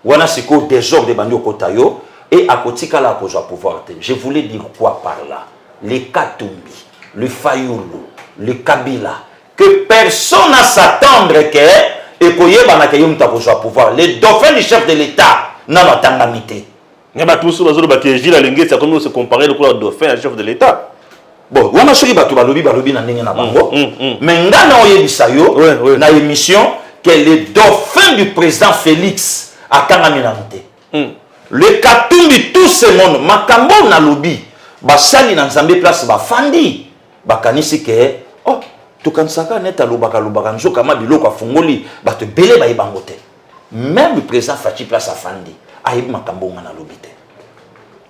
wana sikoyo désordre ebandi okota yo et akotikala akozwa pouvoir te je voulais dire quoi par là le katumbi le fayulu le kabila que personne a s'attendre que ekoyebana que ye mutu akozwa pouvoir le dauphin du chef de l'etat nanu atangami te nga bato mosusu bazoloba ke gile alengesi akomi kose compare lokola dauphin ya chef de l'état bon wana soki bato balobi balobi na ndenge na bango mm, mm, mm. me nga na oyebisa yo ouais, ouais. na émission ke le dauphin du président félix akangami nanu te Hmm. Le Katumbi tout ce monde makambo oyo nalobi basali na Nzambe place bafandi bakanisi ke oh, tokanisaka neti alobaka alobaka nzoka ma biloko afungoli bato ebele bayebi bango te meme président Fatshi place afandi ayebi makambo nga nalobi te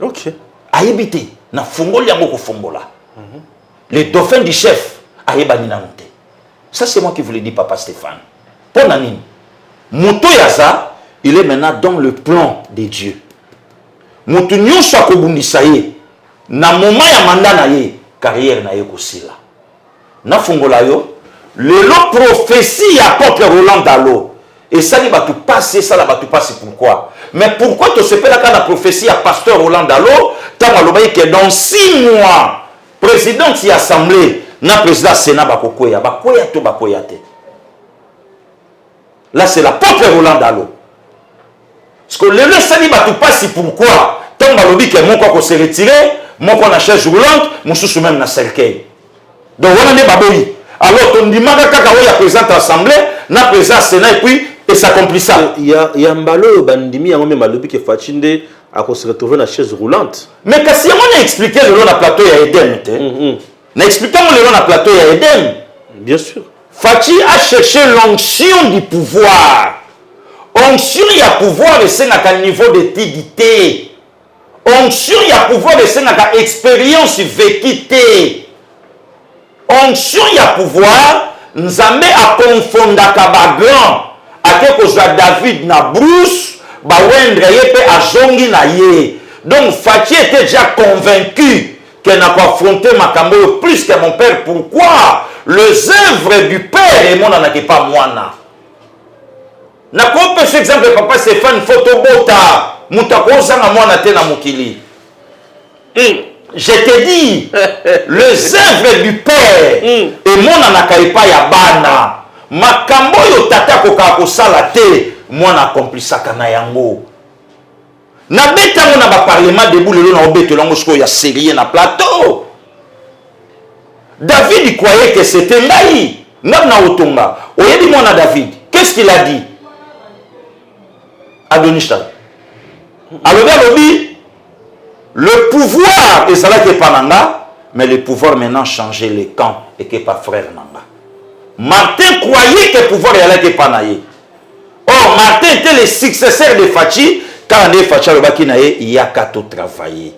okay. ayebi te nafungoli yango kofongola mm -hmm. le dauphin du chef ayebani nano te Ça c'est moi qui vous le dis papa Stéphane. Pour na nini? Moto yaza, il est maintenant dans le plan de Dieu. Moto nyonso akobundisa ye na moment ya manda na ye, carrière na ye kosila. Nafungola yo lelo prophétie ya apôtre Roland Dalo esali bato pasi esala bato pasi pourquoi mais pourquoi tosepelaka na prophétie ya pasteur Roland Dalo ntango alobaki ke dans six mois Presidente ya assemblee na president ya senat bakokweya, bakweya to bakweya te. Là c'est la propre Roland Dalo. Parce que lelo esali bato pasi pourquoi ntango balobi ke moko ako se retirer moko na chaise roulante mosusu meme na cercueil donc wana nde baboyi alors tondimaka kaka oyo ya président ya assemblée na président ya sénat epuis esaccomplissa ya mbala oyo bandimi yango meme alobi ke faci nde Ako se retrouver na chaise roulante. Mais kasi yango na expliquer lelo na plateau ya Eden te. Mm -hmm. Na expliquer yango lelo na plateau ya Eden. Bien sûr. Fatshi a cherché l'onction du pouvoir. Onction ya pouvoir esengaka niveau d'étude te. Onction ya pouvoir esengaka expérience vécue te. Onction ya pouvoir nzambe a confondaka ba grand ake kozua David na Bruce ba oindre ye pe azongi na ye donc Fatshi etait dejà convaincu que na ko affronter makambo oyo plus que mon père pourquoi les oeuvres du père emonanaka epa muana na ko pesa exemple papa Stephane faut tobota mutu ako zanga muana te na mokili mm. je te dis les œuvres du père mm. emonanaka epai ya bana makambo oyo tata akokaka kosala te mwana akomplisaka na yango nabeta yango na baparlement debu lelo na obetela yango sikoyo ya serie na plateau david croyait que c'était ngai ngai na otonga oyebi mwana david qu'est-ce qu'il a dit adonishtan alobi alobi Le pouvoir ezalaki epa na nga mais le pouvoir maintenant changer le camp eke epa frère na nga. Martin croyait que pouvoir eyalaki epa na ye. Or Martin était le successeur de Fatshi kaka nde Fatshi alobaki na ye yaka to travailler.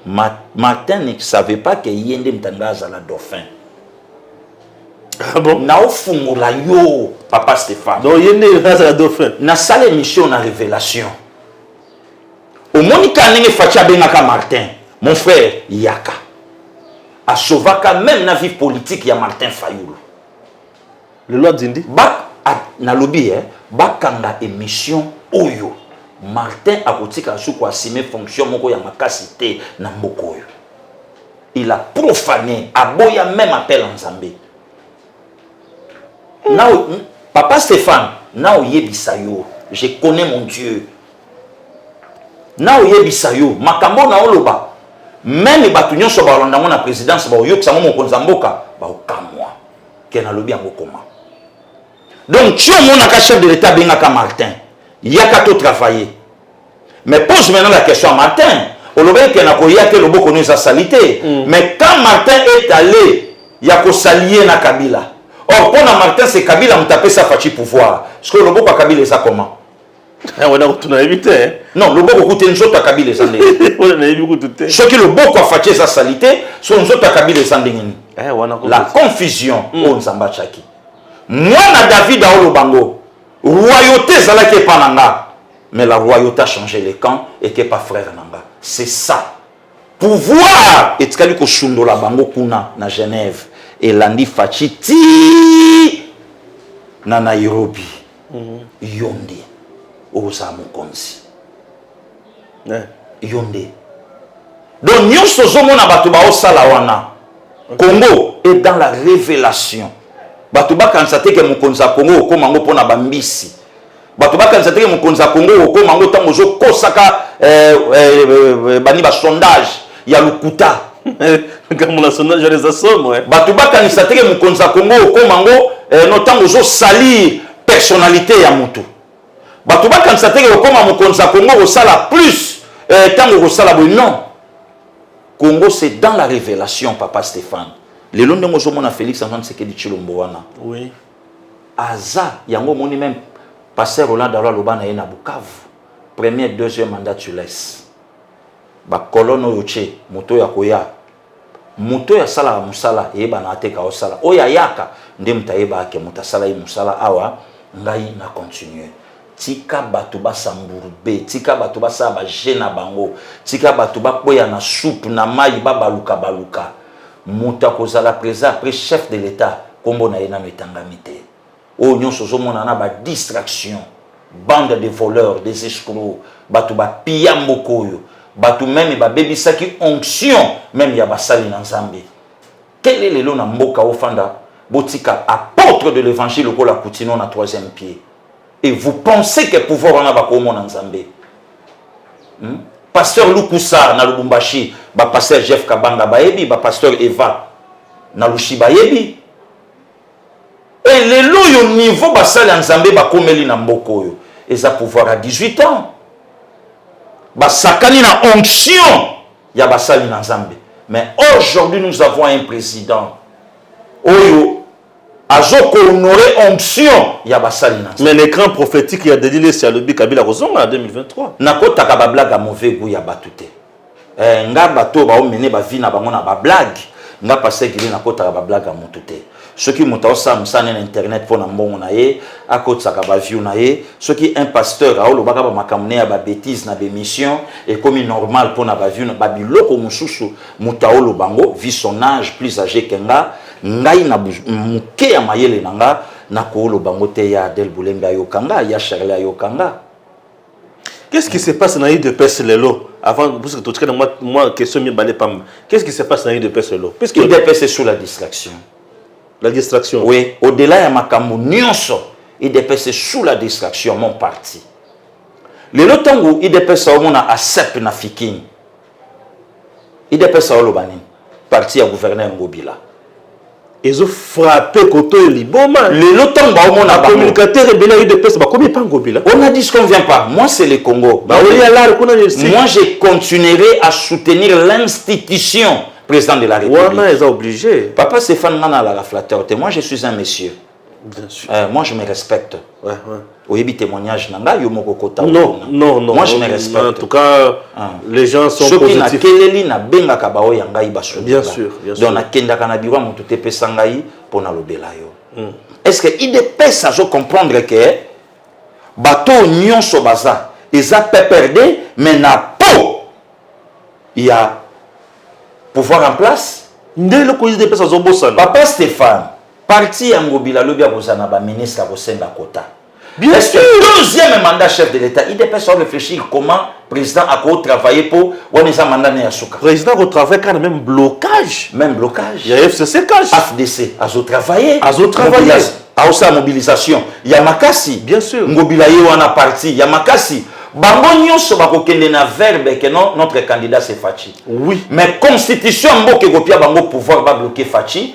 Martin ne savait pas que ye nde mtanga azala dauphin. Ah bon? naofungola yo papa stéphane donc ye nde azala dauphin nasala émission na révélation omoni ka ndenge faci abengaka martin mon frère yaka asovaka meme na vie politique ya martin fayulu lelo adindi nalobi eh, bakanga émission oyo martin akotikala suku asime fonction moko ya makasi te na mboka oyo il a profané aboya meme appel ya nzambe Nao, papa Stéphane, nao yebisa yo, je connais mon Dieu. Nao yebisa yo, makambo na oloba, meme bato nyonso balanda yango na présidence baoyokisa yango mokonzi ya mboka baokamwa ke nalobi yango koma donc ti omonaka chef de l'état abengaka martin yaka to travailler Mais pose maintenant la question à Martin. Olobaki que nakoya te loboko no eza salite. Mm. Mais quand Martin est allé ya ko salier na Kabila. Or pona Martin c'est Kabila mutapé sa fachi pouvoir. Ce que loboko Kabila eza comment? Eh, wana kutu nayebi te eh. non loboko kutu nzoto ya kabila eza ndenge wana nayebi kutu te soki loboko afaci eza sali te so nzoto ya kabila eza ndenge nini eh, la confusion mm. oyo nzambe atyaki mwana david aoloba ngo royauté ezalaki epa na nga mais la roi yo ta change le camp ete pa frère na nga c'est ça pouvoir etikali kosundola bango kuna na genève elandi faci ti na nairobi mm -hmm. yo nde okozala mokonzi yeah. yo nde donc nyonso ozomona bato baosala wana okay. congo est dans la révélation bato bakanisa te ke mokonzi ya congo okoma yango mpo na bambisi bato bakanisa teke mokonzi ya congo okokoma yango ntango ozokosaka eh, eh, eh, bani basondage ya lokuta likambo na sondage wana eza somo bato bakanisa teke mokonzi ya congo okoma yango no ntango ozosalir personnalité ya motu bato bakanisa teke okoma mokonzi ya congo okosala plus ntango okosala boye non congo c'est dans la révélation papa stéphane lelo ndenge ozomona félix antoine sekedi tshilombo wana Aza yango omoni meme Pasteur Roland Dalo aloba na ye na Bukavu premier deuxième mandat tu laisses ba colonne oyo tse moto oyo akoya moto oyo asalaka mosala eyebanaka te ka osala oyo ayaka nde moto ayebaka ke moto asala ye mosala awa ngai na continuer Tika batu ba s'embourber, tika batu ba sala ba jeux na bango, tika batu ba kweya na soupe, na mayi, ba baluka baluka. Mutu akozala president après chef de l'etat kombo na ye nanu etangami te. Oyo nionso ozo mona na ba distraction. Bande des voleurs, des escrocs, batu ba pilla mboka oyo, batu meme ba bebisaki onction meme ya ba sali na Nzambe. Kende lelo na mboka ofanda botika apôtre de l'évangile lokola Kutino na troisième pied. Et vous pensez que pouvoir wana bakomona Nzambe. Hmm? Pasteur Lukusa na Lubumbashi, ba pasteur Jeff Kabanga bayebi, ba pasteur Eva na Lushi bayebi. Et lelo yo niveau basali ya Nzambe bakomeli na mboka oyo. Eza pouvoir à 18 ans. Basakani na onction ya basali na Nzambe. Mais aujourd'hui nous avons un président oyo azo ko honorer onction ya basali na mais le grand prophétique ya Denis Lessi alobi Kabila kozonga na 2023 nakotaka ba blague ya mauvais goût ya batu te eh, nga bato baomene ba vie na bango na ba blague nga paseki nde nakotaka ba blague ya mutu te soki moto aosala mosala ne na internet mpo na mbongo na ye akotisaka baview na ye soki un pasteur aolobaka bamakambo ne ya babétise na bémission ekomi normal mpo na baview na babiloko mosusu moto aoloba yango vi son age plus age ke nga ngai na moke ya mayele na nga nakooloba yango te ya adel bolembe ayoka nga ya charle ayoka nga Qu'est-ce qui se passe na UDPS lelo avant parce que totika na moi moi question mibale pam. Qu'est-ce qui se passe na UDPS lelo? Puisque UDPS est sous la distraction. La distraction. Oui, au-delà ya makambo nyonso, UDPS est sous la distraction mon parti. Lelo tango UDPS omona ASEP na Fikin. idps aoloba nini parti ya gouverneur ya ngobila ezo frappe koto ya liboma lelo ntango baomona bacommunicateur ebele ya udps bakomi epa ngobila on a dit ce qu'on vient pas moi c'est le congo baoyi alare kuna moi je continuerai à soutenir l'institution président de la république wana eza obligé papa stéphane nga nalaka flatteur te moi je suis un monsieur Bien sûr. Euh, moi je me respecte. Ouais, ouais. Oyebi témoignage nanga yo moko kota. Non, non, non. Moi je me respecte. En tout cas, hein. les gens sont Soki positifs. Soki na keleli na benga kabao ya ngai basu. Bien sûr, bien sûr. Donc na kenda kana biwa mutu te pesa ngai pona lobela yo. Mm. Est-ce que IDPS azo comprendre que bato nyonso baza eza PPRD mais na po ya pouvoir en place nde eloko IDPS azobosana papa Stéphane Parti ya Ngobila lobi akozala na ba ministre akosenga kota. Bien sûr. Deuxième mandat chef de l'État. Il dépêche à réfléchir comment président a quoi travailler pour on est mandat ne asuka. Président a travailler quand même blocage. Même blocage. Il y a FCC cash. FDC a travailler. A travailler. A aussi mobilisation. Il y a Makassi. Bien sûr. Ngobila yo en a parti. Il y a Makassi. bango nyonso bakokende na verbe que non notre candidat c'est faci oui mais constitution mboka ekopia bango pouvoir babloke faci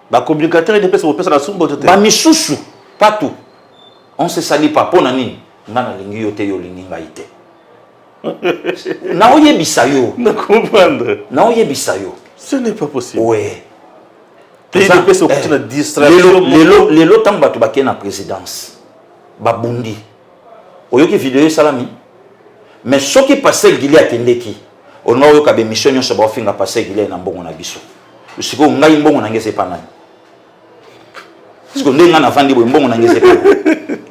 ba communicateur ede pesa kopesa na sumbo te ba misusu pas tout on se sali pas pona nini nga na lingi yo te yo lingi ngai te na oyebisa yo na comprendre na oyebisa yo ce n'est pas possible ouais eh, lelo ntango bato bakei na présidence babundi oyoki video esalami mais soki pasteur gili akendeki olinga oyoka bemission nyonso baofinga pasteur gili na mbongo na biso sikoyo ngai mbongo na ngai eza epa nani sikoyo ndenge ngai navandi boye mbongo na ngai eza epa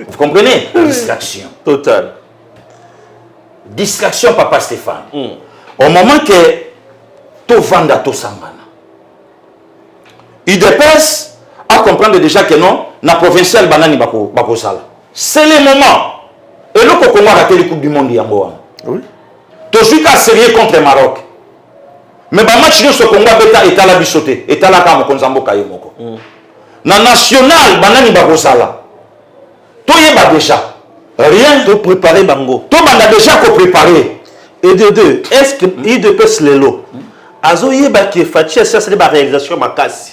vous comprenez mm. distraction total distraction papa stéphane mm. au moment que tovanda tosangana udps acomprendre déjà que non na provincial banani bakozala bako C'est le moment. Eloko Congo arateli Coupe du Monde yango wana. Oui. Tozwi ka sérieux contre Maroc. Mais ba match nyonso Congo abeta etala biso te, etala kaka mokonzi ya mboka ye moko. Mm. Na national banani bakozala? Toyeba déjà. Rien. To préparer bango. To banda déjà ko préparer. Et de deux, est-ce que mm. IDPS lelo mm. azoyeba que Fatshi asali ba réalisation makasi?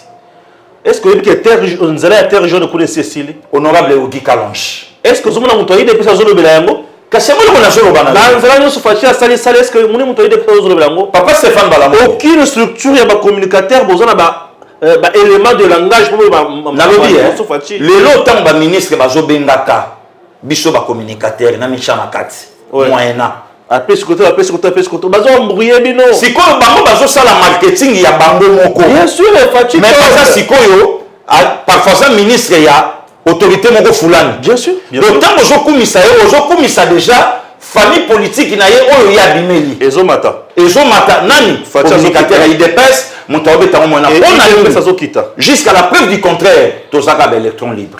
Est-ce que oyebi que terre nzela ya terre jaune kuna esi esili? Honorable Ogi Kalonji. Est-ce que ozomona moto ayi depuis azolobela yango? Kasi yango eloko nazoloba na na nzela nyonso Fatshi asali sali est-ce que omoni moto ayi depuis azolobela yango? Papa Stéphane Balamu. Aucune structure ya ba communicateurs boza na ba euh, ba éléments de langage pour ba nalobi eh, lelo ntango ba ministre bazobengaka biso ba communicateur na micha na kati ouais. moyena apesi koto apesi koto apesi koto bazo embrouiller bino sikoyo bango bazosala marketing ya bango moko bien sûr fatshi mais baza sikoyo parfois aza ministre ya autorité moko fulani bien sûr donc ntango ozokumisa ye ozokumisa déjà famille politique na ye oyo ye abimeli ezomata ezomata nani communicateur ya idps moto aobetango mwana mpo na jusqu'à la preuve du contraire tozaka ba électron libre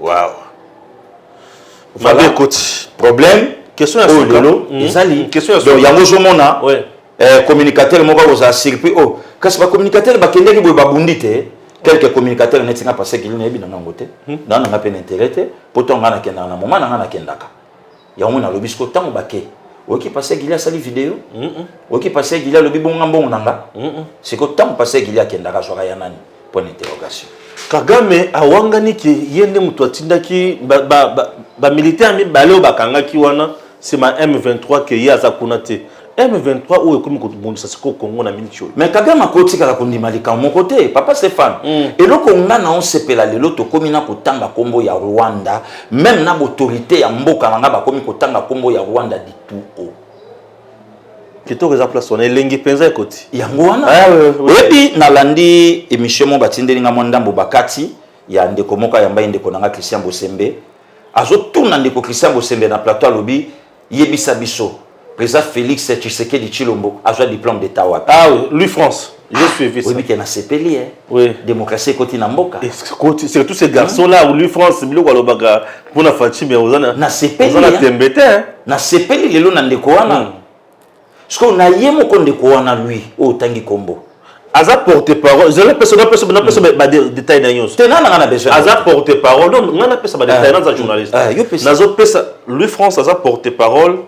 Wow. Voilà. Mabe ekoti. Problème. Question ya suka. Lelo. Mm -hmm. Ezali. Mm, question ya suka. Donc yango zomona. Oui. Eh, communicateur moko akozala surpris. Oh, kasi ba communicateur bakendeki boye babundi te. quelque communicateur neti nga paseki lino yebi na ngango te hmm. na nanga pe na intérêt te poto nga nakendaka na moment na nga nakendaka yango nalobi siko ntango bake oyoki pase gili asali video oyoki pase gili alobi bonga mbongo na nga siko ntango pase gili akendaka azwaka ya nani point d'interrogation kagame awangani ke ye nde moto atindaki bamilitaire mibale oyo bakangaki wana nsima m23 ke ye aza kuna te M23 oyo ekomi kobundisa sikoyo Congo na miniti oyo. Mais Kagame akotikala kondima likambo moko te papa Stéphane. Mm. Eloko nga na osepela lelo tokomi na kotanga kombo ya Rwanda même na autorité ya mboka na nga bakomi kotanga kombo ya Rwanda di tout haut. Kitoko eza place wana elengi penza ekoti. Yango wana. Ah, oui, oui. Oyebi nalandi émission mo batindeli nga mwa ndambo bakati ya ndeko moko ayamba ye ndeko na nga Christian Bosembe. Azotuna ndeko Christian Bosembe na plateau alobi Yebisa biso President Felix Tshisekedi Chilombo azwa diplôme d'état wapi? Ah oui, Louis France. J'ai suivi ça. Oui, bien nasepeli hein. Oui. Démocratie ekoti na mboka. Ekoti, c'est tous ces garçons là ou Louis France biloko alobaka pona Fatshi mais ozana. Nasepeli. Ozana tembete hein. Nasepeli lelo na ndeko wana. Hmm. Sikoyo na ye moko ndeko wana lui oyo otangi kombo aza porte parole zela pesa na pesa na pesa hmm. ba détail na nyonso te nana ngana besoin aza porte parole donc ngana pesa ba ah. détail naza journaliste ah, nazo pesa Louis France aza porte parole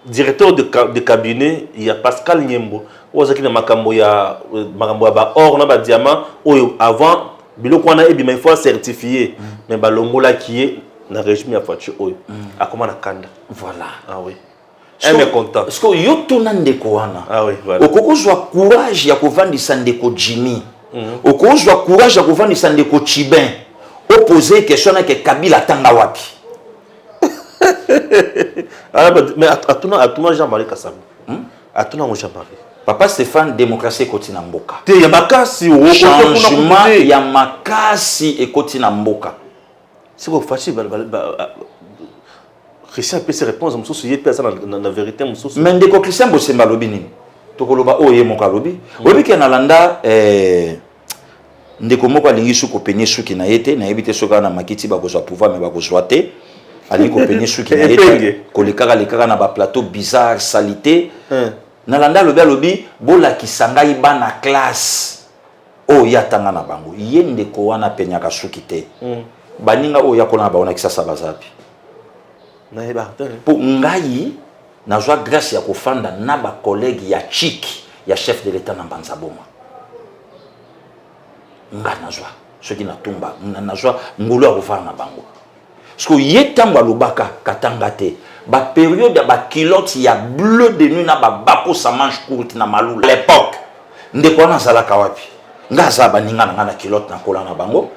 directeur de, de cabinet ya Pascal Nyembo oyo azalaki na makambo ya euh, makambo ya ba or na ba diamant oyo avant biloko wana ebima il faut certifier hmm. mais balongolaki ye na régime ya Fatshi oyo hmm. akoma na kanda voilà ah oui un mécontent sikoyo yo tuna ndeko wana ah oui, voilà. okoki kozwa courage ya kovandisa ndeko jimmy mm -hmm. okoki kozwa courage ya kovandisa ndeko chibin opose question nake kabila atanga wapi ah, mais atuna atuna jean marie kasamba hmm? atuna yango jean marie papa stéphane démocratie ekoti na mboka te ya makasi changement ya makasi ekoti na mboka sikoyo faci Christian apesi réponse mosusu ye mpe aza na verité mosusu. Mais ndeko Christian Bosemba alobi nini? Tokoloba oyo ye moko alobi. Hmm. Oyebi ke nalanda eh, ndeko moko alingi su kopenie suki na ye te, nayebi te soki na makiti bakozwa pouvoir mais bakozwa te. Alingi kopenie suki na ye te, kolekaka lekaka na ba plateau bizarre, salite. Hmm. Nalanda alobi alobi bolakisa ngai bana classe oyo ye atanga na bango ye ndeko wana apenyaka suki te mm. baninga oyo yakola na bango na kisasa bazapi mpo ngai nazwa grâce ya kofanda na bacollègue ya chiki ya chef de l'état na mbanza boma ngai nazwa soki natumba nazwa ngolu ya kofanda na bango siko ye ntango alobaka katanga te baperiode ya bakilote ya bleu de nuit na babakosa manche courte na malula à l'époque ndeko wana azalaka wapi nga aza baninga na nga na kilote nakola na bango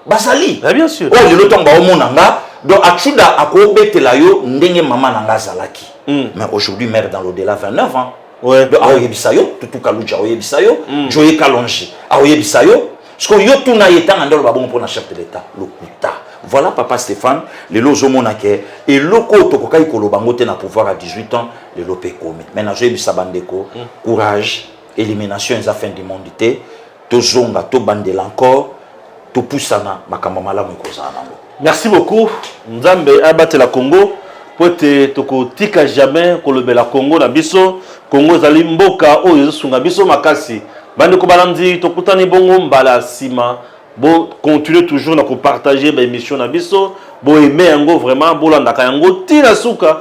bazali ah, oyo oh, lelo ntango baomona nga donc achuda akobetela yo ndenge mama na nga azalaki hmm. mais aujourd'hui mare dans l'odela 29 ans Ouais. Donc, aoyebisa yo tutu kaluja aoyebisa yo mm. joye kalonge aoyebisa yo siko yo tuna ye ntanga nde oloba bongo mpo na chef de l'état lokuta voilà papa stéphane lelo ozomona ke eloko oyo tokokaki koloba yango te na pouvoir ya 18 ans lelo mpe ekomi mai nazoyebisa bandeko mm. courage élimination eza fin du monde te tozonga tobandela encore topusana makambo malamu ekozala nango merci beaucoup nzambe abatela congo mpo ete tokotika jamais kolobela congo na biso congo ezali mboka oyo ezosunga biso makasi bandeko balandi tokutani bongo mbala nsima bocontinue toujours na kopartage baémission na biso boaime yango vraiment bolandaka yango ti na suka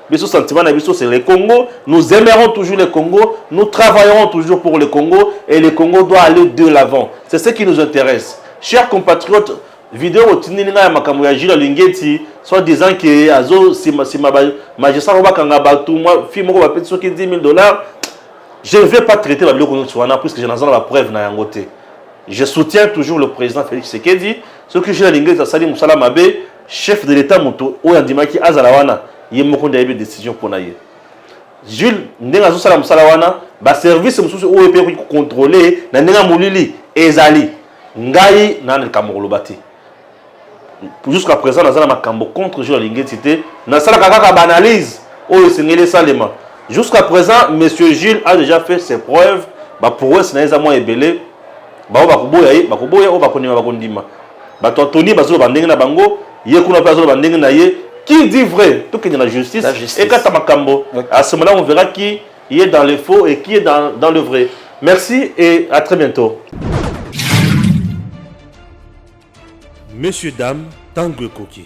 biso sentiment na biso c'est le Congo nous aimerons toujours le Congo nous travaillerons toujours pour le Congo et le Congo doit aller de l'avant c'est ce qui nous intéresse chers compatriotes video otindeli ngai ya makambo ya Jules Alingeti soit disant que azo sima sima ba magistrat ko bakanga bato mwa fille moko bapeti soki 10 000 dollars je ne vais pas traiter la biloko nyonso wana puisque je naza na ba preuve na yango te je soutiens toujours le président Félix Tshisekedi soki Jules Alingeti asali mosala mabe Chef de l'etat moto oyo andimaki azala wana ye moko nde ayebi decision mpo na ye. Jules ndenge azosala mosala wana ba service mosusu oyo mpe ekoki kocontrole na ndenge ya molili ezali ngai na likambo koloba te jusqu'à présent naza na makambo contre Jules Alingeti te nasalaka kaka baanalyse oyo esengeli esalema jusqu'à présent monsieur Jules a déjà fait ses preuves baprouesse na ye eza mwa ebele baoyo bakoboya ye bakoboya oyo bakondima bakondima Bato ya Tony bazo loba ndenge na bango, ye kuna pe azo loba ndenge na ye. Qui dit vrai? To kende na justice ekata makambo. A ce moment-là on verra qui il est dans le faux et qui est dans dans le vrai. Merci et à très bientot. Messieurs dames, tango ekoki.